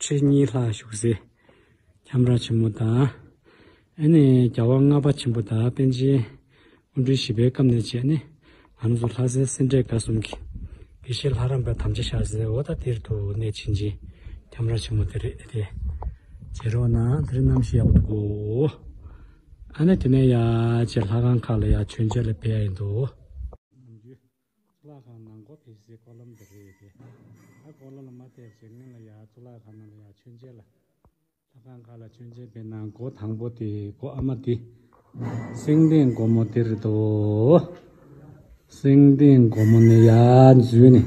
ཁྲི་གཉིས་ལྷག་བཞུགས་སའི་ཁྱམས་ར་ཆེན་མོ་དང། ཨེ་ནས་རྒྱལ་བ་ལྔ་པ་ཆེན་པོ་དང་པཎ་ཆེན་དབོན་སྤྲུལ་བཞི་པའི་སྐབས་ནས་བྱས་ནས་ལམ་སུ་ལྷ་སའི་སེ་འབྲས་དགའ་གསུམ་གྱི་དགེ་བཤེས་ལྷ་རམས་པ་དམ་བཅའ་ཤར་སའི་ཨོ་ད་ཏིར་དུ་གནས་ཕྱིན་ཅིང་ཁྱམས་ར་ཆེན་མོ་དེ་རེད་དེ། བྱེད་རོགས་གནང་དེ་རིང་གནམ་གཤིས་ཡག་པོ་འདུག་གོ། ཨ་ནས་དེ་ནས་ཡ་ཆེ་ལྷ་ཁང་ཁག་ལ་ཡང་མཆོད་མཇལ་ལ་ཕེབས་ཡ་ཡིན་འདུག། གཙུག་ལག་ཁང་ནང་སྒོ་ཕེབས་སའི་སྐོར་ལམ་འདི་རེད་དེ། ད་སྐོར་ལམ་ལ་མ་བལྟས་ཚེ་སྔོན་ལ་ཡང་གཙུག་ལག་ཁང་ནང་ལ་ཡང་ཆོས་མཇལ་ལ། ལྷ་ཁང་ཁག་ལ་ཆོས་མཇལ་བས་ན་སྒོ་དང་པོ་དེ་སྒོ་ཨ་མ་དེ། སེང་ལྡེང་སྒོ་མོ་དེར་འདུག། སེང་ལྡེང་སྒོ་མོ་ནས་ཡར་འཛུལ་ནས་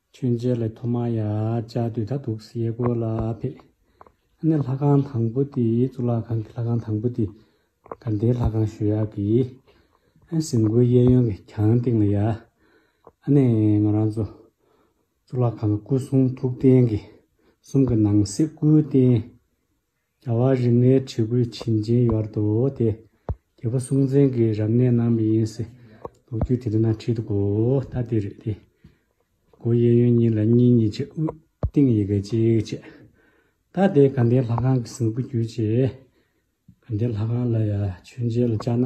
མཆོད་མཇལ་ལས་ཐོག་མར་ཡ་བྱ་དུས་ད་དུག་སེ་ཡས་སྒོ་ལ་ཕེབས། ཨ་ནེ་ལྷ་ཁང་དང་པོ་དེ་གཙུག་ལག་ཁང་གི་ལྷ་ཁང་དང་པོ་དེ་དགའ་ལྡན་ལྷ་ཁང་ཞུ་ཡག་གི། ཨན་ཟིན་གོའི་གཡས་གཡོན་གྱི་གྱང་སྟེང་ལ་ཡ། ཨ་ནེ་ང་རང་ཚོ་གཙུག་ལག་ཁང་གི་སྐུ་གསུང་ཐུགས་རྟེན་གྱི་གསུམ་གྱི་ནང་གསེས་སྐུའི་རྟེན། རྒྱལ་བ་རིགས་ལྔའི་ཁྲི་གུའི་བྱིན་སྦྱིན་གཡོར་དུ་དེ། རྒྱལ་པོ་སྲོང་བཙན་གྱི་རབ་གནས་རྣམས་མི་ཡིན་སྲིད། ལོ་རྒྱུས་དེ་དུས་ན་ཁྲི་དགུ་ལྟ་དེ་རེད་དེ། སྒོ་དབྱེ་ཡོན་གཉིས་ལ་གཉིས་གཉིས་བྱས་དབུས་སྟེང་ཡི་གེ་གཅིག་བྱས། ད་དེ་དགའ་ལྡན་ལྷ་ཁང་གི་གཟིགས་པོ་བརྒྱུད་བྱས། དགའ་ལྡན་ལྷ་ཁང་ལ་ཡ་མཆོད་མཇལ་ལ་བཅར་ན།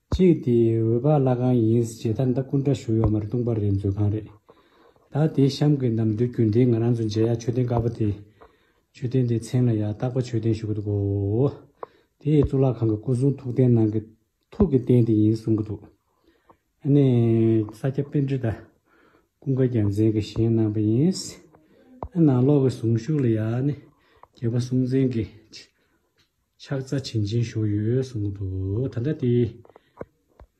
གཅིག་དེ་འོད་པ་བླ་གང་ཡིན་ཞེས་ད་ལྟ་སྐུ་འདྲ་ཞུ་ཡོད་མ་རེད་ལྟུང་བ་རེད་མཛོད་ཁང་རེད་ད་དེ་གཤམ་གྱི་ནམ་དུས་རྒྱུན་ལྡན་ང་རང་ཚོ་མཇལ་ཡག་མཆོད་རྟེན་དཀར་པོ་དེ་མཆོད་རྟེན་དེའི་མཚན་ལ་ཡག་རྟག་པ་མཆོད་རྟེན་ཞུ་གི་འདུག་གོ་དེ་ཡི་གཙུག་ལག་ཁང་གི་སྐུ་གསུང་ཐུགས་རྟེན་ནང་གི་ཐུགས་ཀྱི་རྟེན་དེ་ཡིན་གསུང་གི་འདུག་ཨ་ནི། ས་སྐྱ་དཔེ་འབྲི་དང་ཀུན་དགའ་རྒྱལ་མཚན་གྱིས་བཞེངས་གནང་བ་ཡིན། ཨ་ནང་ལོགས་ཀྱི་གཟུངས་གཞུག་ལ་ཡང་ནི་རྒྱལ་པོ་སྲོང་བཙན་གྱིས། ཕྱག་རྩ་བྱིན་ཅན་བཞུགས་ཡོད་གསུངས་འདུག་ད་ལྟ་དེ་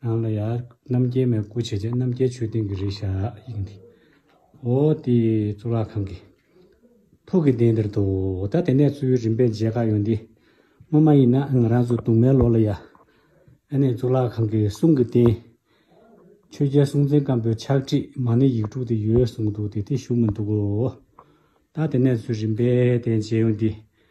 ནང་ལ་ཡང་རྣམ་རྒྱལ་མའི་སྐུ་བྱས་ཀྱང་རྣམ་རྒྱལ་ཆོས་སྡིངས་ཀྱི་རིགས་ཞག་ཡིན་ཏེ། འོ་དེས་གཙུག་ལག་ཁང་གི། ཕུག་གི་གདན་འདིར་འདུག་ད་དེ་ནས་གཙོ་བོའི་རིམ་པས་མཇལ་ཁ་ཡོང་སྟེ། སྔོན་མ་ཡིན་ན་ང་རང་ཚོ་དུང་མའི་ལོགས་ལ་ཡ། ཨ་ནེ་གཙུག་ལག་ཁང་གི་གསུང་གི་རྟེན། ཆོས་རྒྱལ་སྲོང་བཙན་སྒམ་པོའི་ཕྱག་བྲིས་མ་ནི་ཡིག་དྲུག་དེ་ཡོད་གསུངས་འདུག་དེ་དེ་བཞུགས་མི་འདུག་གོ། ད་དེ་ནས་གཙོས་རིམ་པས་དེ་མཇལ་ཡོང་སྟེ།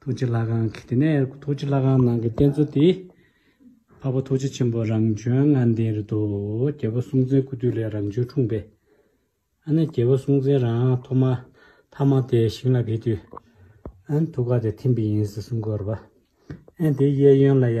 ཐུགས་རྗེ་ལྷ་ཁང་གི་དེ་ནས་ཐུགས་རྗེ་ལྷ་ཁང་ནང་གི་རྟེན་གཙོ་དེ། འཕགས་པ་ཐུགས་རྗེ་ཆེན་པོ་རང་བྱོན་ལྔ་ལྡན་རེད་དོ། རྒྱལ་བ་སྲོང་བཙན་སྐུ་དུས་ལས་རང་བྱོན་འཁྲུངས་པས། ཨ་ནི་རྒྱལ་བ་སྲོང་བཙན་རང་ཐོག་མ་ཐ་མ་དེ་ཞིང་ལ་བས་དུས། ཨན་ཐུགས་ཀ་དེ་ཐིམ་པས་ཡིན་ཟེར་གསུངས་དགོས་ར་བ། ཨན་དེའི་གཡས་གཡོན་ལ་ཡ།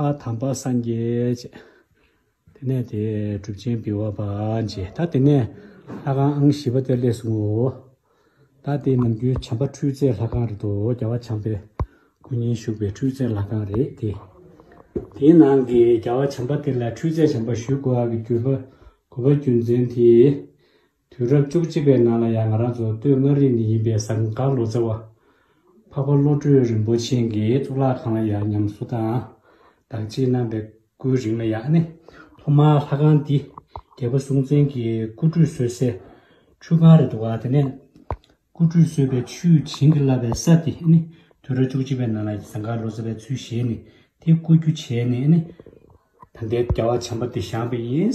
པ་དམ་པ་སངས་རྒྱས་བྱེད། དེ་ནས་དེས་གྲུབ་ཆེན་བི་བ་པ་འབྱེད། ད་དེ་ནས་ལྷ་ཁང་ཨང་བཞི་པ་དེར་སླེབས་སོང་ངོ། ད་དེ་ནམ་རྒྱུན་བྱམས་པ་འཕྲུལ་རྩལ་ལྷ་ཁང་རེད་དོ་རྒྱལ་བ་བྱམས་པའི་སྐུ་བརྙན་བཞུགས་པའི་འཕྲུལ་རྩལ་ལྷ་ཁང་རེད་དེ། དེའི་ནང་གི་རྒྱལ་བ་བྱམས་པ་དེ་ལ་འཕྲུལ་རྩལ་བྱམས་པ་ཞུས་དགོས་ཨ་གི་གུས་པ་གུས་པ་རྒྱུ་མཚན་དེས། དུས་རབས་བཅུ་གཅིག་པའི་ནང་ལ་ཡང་ང་རང་ཚོ་སྟོད་མངའ་རིས་ནས་ཡིན་པའི་ཟངས་དཀར་ལོ་ཙཱ་བ། འཕགས་པ་བློ་གྲོས་རིན་པོ་ཆེན་གྱི་གཙུག་ལག་ཁང་ལ་ཡང་ཉམས་གསོ་དང་བདག་གཅེས་གནང་པའི་སྐུའི་རིང་ལ་ཡང་ནི་ཐོག་མར་ལྷ་ཁང་འདི་རྒྱལ་པོ་སྲོང་བཙན་གྱི་སྐུ་ཁྲུས་གསོལ་སའི་ཁྲུས་ཁང་རེད་འདུག་དེ་ནས་སྐུ་ཁྲུས་གསོལ་བའི་ཆུས་བྱིན་གྱིས་བརླབས་པའི་ས་དེ་ནི་དུས་རབས་བཅུ་གཅིག་པའི་ནང་ལ་ཟངས་དཀར་ལོ་ཙཱ་བའི་ཚུལ་བཞེས་ནས་དེ་བརྐོ་རྒྱུ་བྱས་ནས་ནི་ད་ལྟའི་རྒྱལ་བ་བྱམས་པ་འདི་བཞེངས་པ་ཡིན།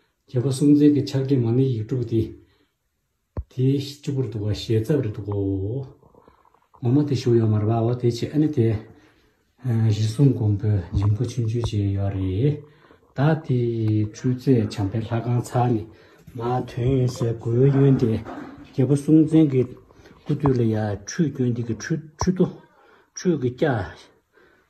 བྱེད་པ་སུམ་རྩེན་གྱི་ཕྱག་རྒྱ་མ་ནི་ཡིག་དྲུག་སྟེ། དེའི་སྤྱི་བོར་འདུག་པ་ཞལ་རྩ་བར་འདུག་གོ། འོག་མ་དེ་ཞུགས་ཡོད་མར་བའོ་དེ་ཆེ་ཨ་ནི་དེ། གཞི་གསུམ་སྒོམ་པོའི་སྦྱིན་པ་ཆུང་ཆུང་བྱས་ཡོད་རེད། ད་དེ་འཕྲུལ་རྩལ་བྱམས་པའི་ལྷ་ཁང་ཚ་ནི། མ་དོན་ཡིན་ཟེར་དགོས་ཡོན་ཏེ། བྱེད་པ་སུམ་རྩེན་གྱི་སྐུ་སྟོད་ལ་ཡང་ཁྲུས་སྐྱོན་སྟེང་གི་ཁྲུས་ཁྲུས་ཏོ། ཁྲུས་ཀྱི་སྐྱ།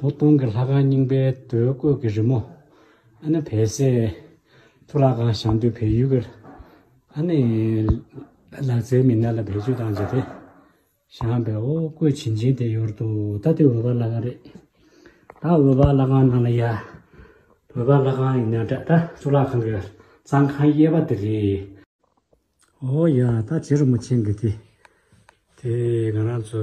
ལོ་སྟོང་གི་ལྷ་ཁང་རྙིང་པའི་དུས་བརྐོས་ཀྱི་རི་མོ། ཨ་ནི་བལ་སའི་མཐོ་རགས་ཁང་ཞང་དུས་བལ་ཡུལ་གྱི་ཨ་ནི་ལག་རྩལ་མི་སྣ་ལ་བེད་སྤྱོད་བཏང་རྗེས་དེ་ཞང་བལ་འོ་བརྐོས་བྱིན་ཅིང་དེ་ཡོར་དུ་ད་ལྟའི་འོལ་བ་ལྷ་ཁང་རེད། ད་འོལ་བ་ལྷ་ཁང་ནང་ལ་ཡ་འོལ་བ་ལྷ་ཁང་ཡིན་ན་འདྲ་ད་གཙུག་ལག་ཁང་གི་གཙང་ཁང་གཡས་པ་དེ་རེད། འོ་ཡ་ད་བྱི་རུ་མོ་ཆེན་གྱི་དེ་དེ་ང་རང་ཚོ་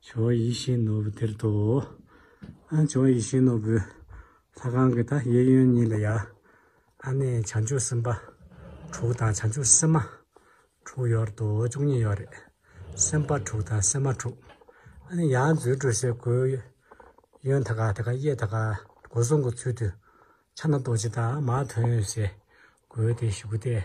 བྱ་བ་ཡིད་བཞིན་ནོར་བུ་དེར་དོ། ཨ་ནི་བྱ་བ་ཡིད་བཞིན་ནོར་བུའི་ལྷ་གང་གིས་ད་གཡས་གཡོན་གཉིས་ལ་ཡ། ཨ་ནི་བྱང་ཆུབ་སེམས་དཔའ་དྲུག་དང་བྱང་ཆུབ་སེམས་མ་དྲུག་ཡོར་དོ་བཅུ་གཉིས་ཡོར་རེ། སེམས་དཔའ་དྲུག་དང་སེམས་མ་དྲུག། ཨ་ནི་ཡང་མཛོད་དྲུག་སའི་གོས་གཡོན་ད་ག་ད་ག་གཡས་ད་ག་སྒོ་གསུམ་གྱི་ཚུལ་དུ་ཕྱག་ན་རྡོ་རྗེ་དང་མ་དོན་སའི་གོས་དེ་བཞུགས་ཏེ།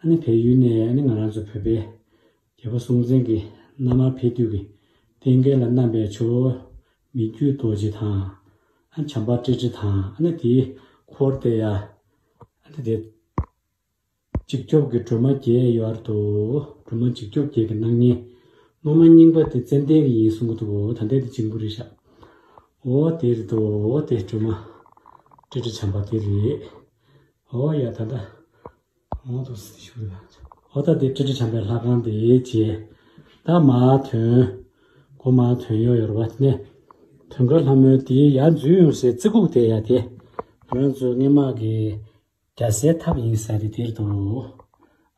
ཨ་ནི་བལ་ཡུལ་ནས་ཨ་ནི་ང་རང་ཚོ་བོད་པའི་རྒྱལ་པོ་སྲོང་བཙན་གྱི་མནའ་མར་ཕེབས་དུས་ཀྱི་རྟེན་སྐལ་ལ་བསྣམས་པའི་ཆོ་མི་རྒྱུད་རྡོ་རྗེ་དང། ཨ་བྱམས་པ་ཀྲི་ཀྲི་དང་ཨ་ནི་དེའི་འཁོར་བསྟེ་ཡ། ཨ་ནི་དེ། འཇིགས་སྐྱོབ་ཀྱི་སྒྲོལ་མ་བརྒྱད་ཡོད་ཨར་དུ་སྒྲོལ་མ་འཇིགས་སྐྱོབ་བརྒྱད་ཀྱི་སྣང་བརྙན། སློབ་མ་རྙིང་པ་དེ་ཙན་དན་གྱི་ཡིན་གསུང་གི་འདུག་འོ་ད་འདི་དེ་ཅིང་བུ་རེད་ཤག་འོ་དེ་རེད་འདུག་འོ་དེ་སྒྲོལ་མ་ཀྲི་ཀྲི་བྱམས་པ་དེ་རེད་འོ་ཡ་ད་ད། གང་དུ་སྲི་ཞུ་ལ་བྱ། ཨོ་ད་དེ་ཀྲི་ཀྲི་བྱམས་པའི་ལྷ་ཁང་དེ་བྱས། ད་མ་ཐོན། གོ་མ་ཐོན་ཡོ་ཡོར་བ་གནས། ཐོན་ཁར་ལྷ་མོའི་དེ་ཡ་འཛུལ་ཡོང་སའི་རྩི་ཁུག་དེ་ཡ་དེ། རང་ཚོའི་སྔན་མ་གི་རྒྱ་སེའི་ཐབ་ཡིན་ས་རེད་དེར་དུ།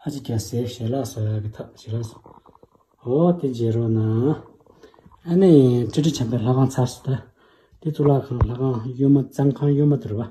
ཨ་ཅེ་རྒྱ་སེའི་ཞལ་ལག་སོ་ཡ་གི་ཐབ་བྱེད་རོགས་སོ། ཨོ་དེ་བྱེད་རོགས་ན། ཨ་ནེ་ཀྲི་ཀྲི་བྱམས་པའི་ལྷ་ཁང་ཚར་སོ་ད། དེ་གཙུག་ལག་ཁང་ལྷ་ཁང་གཡོན་མ་གཙང་ཁང་གཡོན་མ་དུར་བ།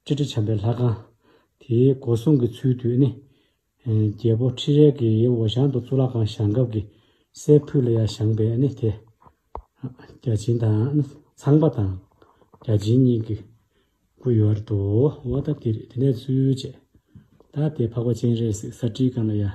སྤྱི་དྲིལ་བྱམས་པའི་ལྷ་ཁང། དེའི་སྒོ་སྲུང་གི་ཚུལ་དུ་ནི། རྒྱལ་པོ་ཁྲི་རལ་གྱི་ཡེ་འོ་ཞང་དུ་གཙུག་ལག་ཁང་བཞེངས་སྐབས་ཀྱི་སའི་ཕུད་ལ་ཡར་བཞེངས་པས་ནི་དེ། བརྒྱ་བྱིན་དང་ནི་ཚངས་པ་དང་བརྒྱ་བྱིན་གཉིས་ཀྱི་སྐུ་ཡོད་རེད་དོ། འོ་ད་དེ་རེད་དེ་ནས་ཚུལ་བཅད། ད་དེ་འཕགས་པ་སྤྱན་རས་གཟིགས་ས་སྤྲིའི་སྒང་ལ་ཡར།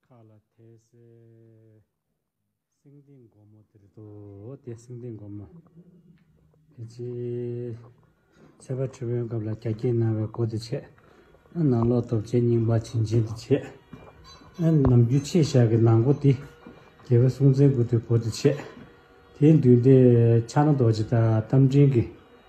མཁའ་ལ་དེ་སྲས་སེང་ལྡེང་སྒོ་མོ་དེར་དུ་དེ་སེང་ལྡེང་སྒོ་མོ། དེ་རྗེས་ཚེ་དཔལ་ཁྲི་བོན་སྐབས་ལ་གྱ་གྱིས་གནང་བའི་སྒོ་དེ་ཕྱེ། ནང་ལོག་སྟོབས་ཆེན་རྙིང་པ་བྱིན་ཆེན་དེ་ཕྱེ། ནམ་རྒྱུན་ཆེ་བཞག་གི་ནང་སྒོ་དེ། རྒྱལ་བའི་སྲུང་བཙན་སྐུ་དེའི་སྒོ་དེ་ཕྱེ། དེའི་མདུན་དེ་ཕྱག་ན་རྡོ་རྗེ་དང་རྟ་མགྲིན་གྱི།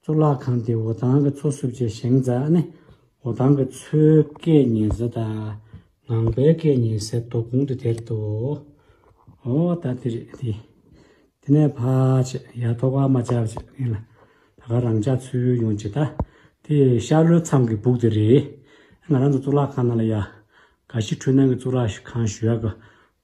གཙུག་ལག་ཁང་དེ་འོ་ཐང་གི་མཚོ་བསྲུབ་བཅས་བཞེངས་མཛད་ཨ་ནི་འོ་ཐང་གི་མཚོའི་སྐད་ཉན་ས་དང་ངང་པའི་སྐད་ཉན་སའི་དོ་དགོང་དུ་དེར་དུ་འོ་ད་དེ་རེད་དེ། དེ་ནས་ཕ་ཆེ་ཡ་ཐོག་ཨ་མ་ཅག་བཅས་ཡིན་ལ་ད་ག་རང་ཅག་ཚུར་ཡོང་ཇི་ལྟ་དེ་ཤར་ལྷོའི་མཚམས་ཀྱི་སྦུག་དེ་རེད་ང་རང་ཚོ་གཙུག་ལག་ཁང་ནང་ལ་ཡ་ག་ཤི་འཁྲུལ་སྣང་གི་གཙུག་ལག་ཁང་ཞུ་ཡ་གི་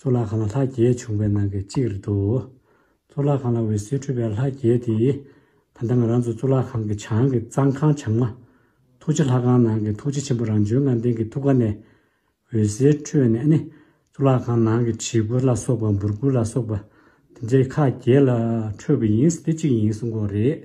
གཙུག་ལག་ཁང་ལ་ལྷ་བརྒྱད་བྱུང་བའི་ནང་གི་གཅིག་རེད་འདུག་གཙུག་ལག་ཁང་ལ་འོད་ཟེར་འཕྲོས་པའི་ལྷ་བརྒྱད་དེས་ད་ལྟ་ང་རང་ཚོ་གཙུག་ལག་ཁང་གི་བྱང་གི་གཙང་ཁང་བྱང་མ། ཐུགས་རྗེ་ལྷ་ཁང་ནང་གི་ཐུགས་རྗེ་ཆེན་པོ་རང་བྱོན་ངང་ལྡན་གྱི་ཐུགས་ཀ་ནས་འོད་ཟེར་འཕྲོས་ནས་ནི་གཙུག་ལག་ཁང་ནང་གི་བྱི་གུ་ལ་སོགས་པ་འབུར་གུ་ལ་སོགས་པ་དེ་འདྲའི་ཁག་བརྒྱད་ལ་འཕྲོས་པ་ཡིན་དེ་གཅིག་ཡིན་གསུང་གོ་རེད།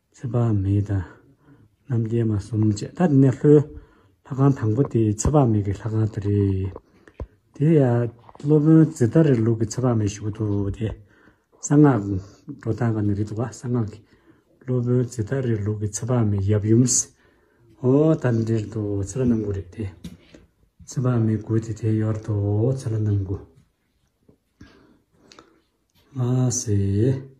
ཚེ་དཔག་མེད་དང། རྣམ་རྒྱལ་མ་གསུམ་བཅས་ད་དེ་ནས་ལྷོའི་ལྷ་ཁང་དང་པོ་དེ་ཚེ་དཔག་མེད་ཀྱི་ལྷ་ཁང་དེ་རེད། དེ་ཡང་སློབ་དཔོན་ཛི་ཏཱ་རའི་ལུགས་ཀྱི་ཚེ་དཔག་མེད་ཞུགས་འདུག་སྟེ། གསང་སྔགས་འགྲོ་སྟངས་ཀ་ནས་རེད་འདུག་བ་གསང་སྔགས་ཀྱི་སློབ་དཔོན་ཛི་ཏཱ་རའི་ལུགས་ཀྱི་ཚེ་དཔག་མེད་ཡབ་ཡུམ། ཨོ་ད་འདྲེར་འདུག་ཚེ་ལྷ་རྣམ་དགུ་རེད་དེ། ཚེ་དཔག་མེད་དགུ་དེ་དེ་ཡོར་དུ་ཚེ་ལྷ་རྣམ་དགུ། མ་ཟེ།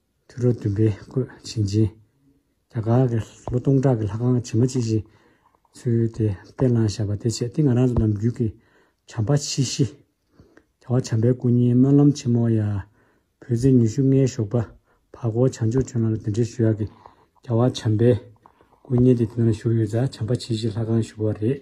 དུས་རབས་བདུན་པའི་བཀོད་བྱིན་ཅན། རྒྱ་གར་གྱི་ལོ་སྟོང་ཕྲག་གི་ལྷ་ཁང་བྱེ་མ་ཅི་བཞིན། ཚུལ་དེ་བསྟན་བླངས་བཞག་པ་དེ་ཆེད་དེ་ང་རང་ཚོ་ནམ་རྒྱུན་གྱི་བྱམས་པ་ཆེ་བཞི། བྱ་བ་བྱམས་པའི་སྐུ་བརྙན་སྨོན་ལམ་ཆེན་མོ་ཡ། བོད་ཟས་ཉི་ཤུ་ལྔའི་ཞོགས་པ་བར་སྐོར་བྱང་ཆུབ་ཆོས་ལམ་ལ་དེ་འབྲེལ་ཞུ་ཡག་གི་བྱ་བ་བྱམས་པའི་སྐུ་བརྙན་དེ་དེ་ན་བཞུགས་ཡོད་ཙང་བྱམས་པ་ཆེ་བཞི་ལྷ་ཁང་བཞུགས་པ་རེད།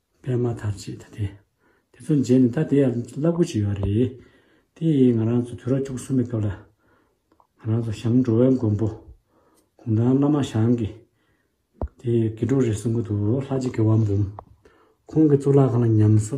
པད་མ་དར་ཅིག་ད་དེ། དེ་ཚོ་མཇལ་ནས་ད་དེ་ཡར་བསླབ་དགོས་ཀྱི་ཡོད་རེད། དེ་ཡིས་ང་རང་ཚོ་དུས་རབས་བཅུ་གསུམ་པའི་སྐབས་ལ། ང་རང་ཚོ་ཞང་འགྲོ་བའི་མགོན་པོ། གུང་ཐང་བླ་མ་ཞང་གི། དེ་ཡི་དགེ་ཕྲུག་རེད་གསུང་གི་འདུག་ལྷ་རྗེ་དགེ་བ་འབུམ། ཁོང་གི་གཙུག་ལག་ཁང་ལ་ཉམས་གསོ།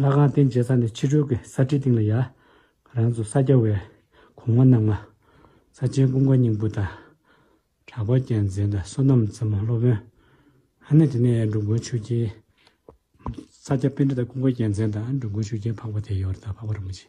ལྷ་ཁང་རྟེན་བྱེད་ས་ནས་ཕྱི་རོལ་གྱི་ས་ཁྲིའི་སྟེང་ལ་ཡང། རང་ཚོ་ས་སྐྱ་བའི་གོང་མ་རྣམས་ལ། ས་ཆེན་ཀུན་དགའ་སྙིང་པོ་དང། གྲགས་པ་རྒྱལ་མཚན་དང་བསོད་ནམས་རྩེ་མོ་སློབ་དཔོན། ཨ་ནེ་དེ་ནས་འགྲོ་མགོན་ཆོས་རྒྱལ། ས་སྐྱ་དཔེ་འདྲེ་དང་ཀུན་དགའ་རྒྱལ་མཚན་དང་འགྲོ་མགོན་ཆོས་རྒྱལ་འཕགས་པ་དེ་ཡོར་དང་འཕགས་པ་རིན་པོ་ཆེ།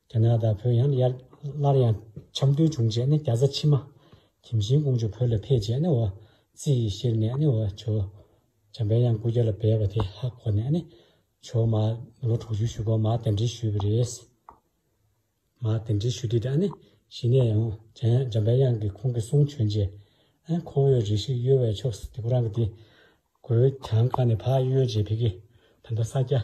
རྒྱ་ནག་དང་བོད་ཡང་ཡར་སླར་ཡང་འཆམ་མཐུན་བྱུང་རྗེས་ནི་རྒྱ་བཟའ་ཕྱི་མ་གྱིམ་གཞིའི་ཀོང་ཇོ་བོད་ལ་ཕེབས་རྗེས་ནི་བ་ཙི་ཡིས་གཤེགས་ནས་ནི་བ་ཇོ་བྱམས་པའི་གཡང་སྐུ་རྒྱ་ལ་སྦས་པ་དེ་ཧ་གོ་ནས་ནི་བྱོ་མ་ལོ་དྲུག་ཅུའི་བཞུགས་སྒར་མ་དེ་འདྲི་ཞུས་པ་རེད། མ་དེ་འདྲི་ཞུས་དེ་དག་ནི་གཞི་ནས་ཡང་བྱམས་པའི་གཡང་གི་ཁོང་གི་གསུང་བྱོན་རྗེས་ཨེ་ཁོ་བོས་རེ་ཞིག་གཡོལ་བའི་ཕྱོགས་སུ་དེ་ཁོ་རང་གི་དེ་གོས་གྱང་བཀག་ནས་བག་གཡོལ་རྗེས་བི་གི་བོད་མདོ་ས་སྐྱ་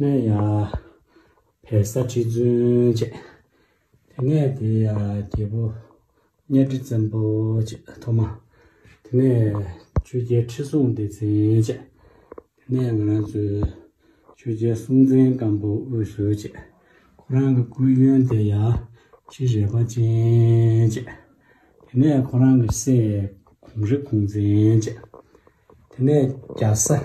སྨན་ཡག་བེ་ས་ཁྲི་བཙུན་བཅས། དེ་ནས་དེ་ཡི་རྒྱལ་པོ་གཉའ་ཁྲི་བཙན་པོ་བཅས་ཐོག་མ། དེ་ནས་ཆོས་རྒྱལ་ཁྲི་སྲོང་ལྡེ་བཙན་བཅས། དེ་ནས་ང་རང་ཚོའི་ཆོས་རྒྱལ་སྲོང་བཙན་སྒམ་པོ་དབུས་སུ་བཅས། ཁོ་རང་གི་སྐུའི་གཡོན་དེ་ཡ་ཁྲི་རལ་པ་ཅན་བཅས། དེ་ནས་ཁོ་རང་གི་སྲས་གོང་རི་གོང་བཙན་བཅས། དེ་ནས་རྒྱ་བཟའ།